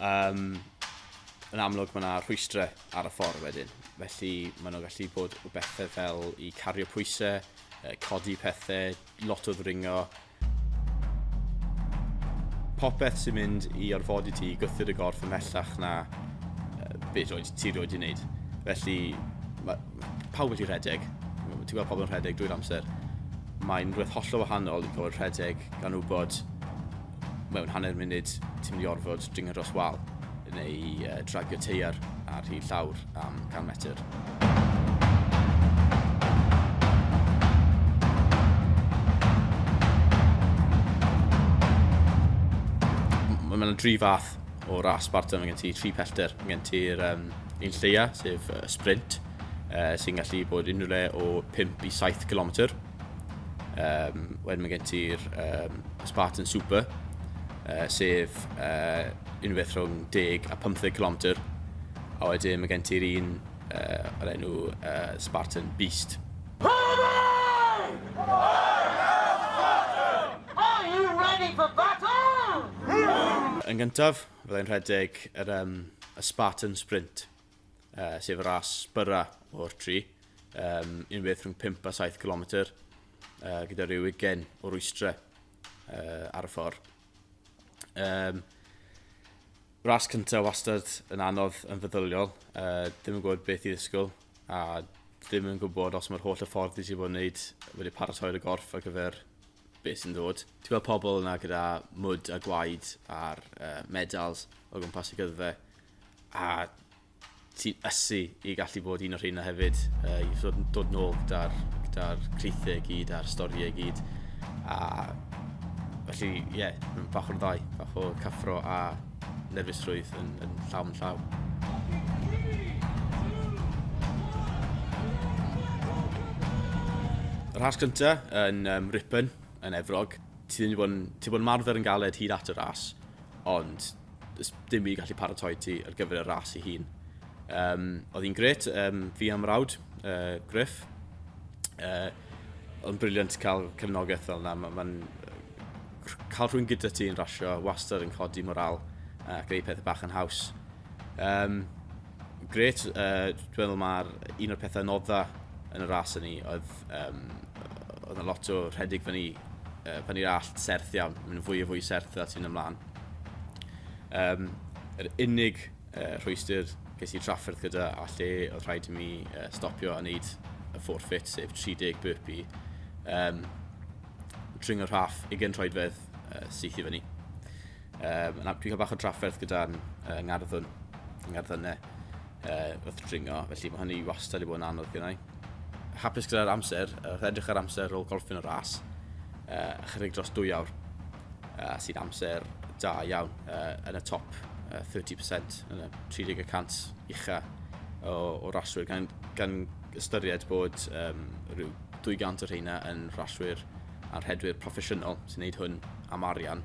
um, yn amlwg mae yna rhwystrau ar y ffordd wedyn. Felly maen nhw'n gallu bod o bethau fel i cario pwysau, codi pethau, lot o ddringo. Popeth sy'n mynd i orfodi ti i gythu'r y gorff ymhellach na beth roed ti roed i wneud. Felly mae pawb wedi rhedeg. Ti'n gweld pobl yn rhedeg drwy'r amser. Mae'n rhywbeth hollol wahanol i gael rhedeg gan wybod mewn hanner munud ti'n mynd i orfod dringo dros wal neu uh, dragio teiar ar hi llawr am 100 metr. Mae yna dri fath o ras Sparta, mae gen ti tri pellter, mae gen ti'r um, un lleia, sef uh, sprint, uh, sy'n gallu bod unrhyw le o 5 i 7 km. Um, wedyn mae gen ti'r um, Spartan Super, uh, sef uh, unwaith rhwng 10 a 15 km. A wedyn mae gen ti'r un uh, o'r enw uh, Spartan Beast. Yn gyntaf, byddai'n rhedeg yr, um, y Spartan Sprint. uh, sef ras byra o'r tri, um, un beth rhwng 5 a 7 km, uh, gyda rhyw ugen o rwystrau uh, ar y ffordd. Um, ras cyntaf wastad yn anodd yn feddyliol, uh, ddim yn gwybod beth i ddysgwyl, a ddim yn gwybod os mae'r holl y ffordd i ti bod yn wneud wedi paratoi'r y gorff ar gyfer beth sy'n dod. Ti'n gweld pobl yna gyda mwd a gwaed a'r uh, medals o gwmpas y gyddfe, A ti'n ysu i gallu bod un o'r rheina hefyd, uh, i fod yn dod nôl gyda'r gyda creithiau gyd a'r storiau gyd. A felly, ie, yeah, bach o'n ddau, bach o cyffro a nerfusrwydd yn, yn llaw yn llaw. Yr has cyntaf yn um, Ripon, yn Efrog, ti ddim wedi bod yn, ti bod yn marfer yn galed hyd at y ras, ond does dim byd gallu paratoi ti ar gyfer y ras i hun. Um, oedd hi'n gret, um, fi am rawd, uh, Griff. Uh, oedd briliant cael cefnogaeth fel yna. Mae'n ma, ma cael rhywun gyda ti yn rasio wastad yn codi moral uh, ac ei pethau bach yn haws. Um, gret, uh, dwi'n meddwl mae'r un o'r pethau nodda yn y ras yn ni oedd Um, oedd yn lot o rhedeg fyny, uh, fyny'r allt serth iawn. Mae'n fwy o fwy serth dda ti'n ymlaen. Um, yr unig uh, rhwystyr ges i trafferth gyda a lle oedd rhaid i mi uh, stopio a wneud y forfeit, sef 30 burpee. Um, tring o'r rhaff, ugen troedfedd uh, syth i fyny. Um, dwi'n cael bach o drafferth gyda'n uh, ngarddwn, ngarddynau uh, wrth dringo, felly mae hynny wastad i bod yn anodd gyda'i. hapus gyda'r amser, wrth edrych ar amser ôl golfyn y ras, uh, chydig dros dwy awr, uh, sy'n amser da iawn uh, yn y top uh, 30%, yn y 30% ucha o, o raswyr, gan, gan ystyried bod um, rhyw 200 o'r rheina yn raswyr a'r hedwyr proffesiynol sy'n gwneud hwn am arian.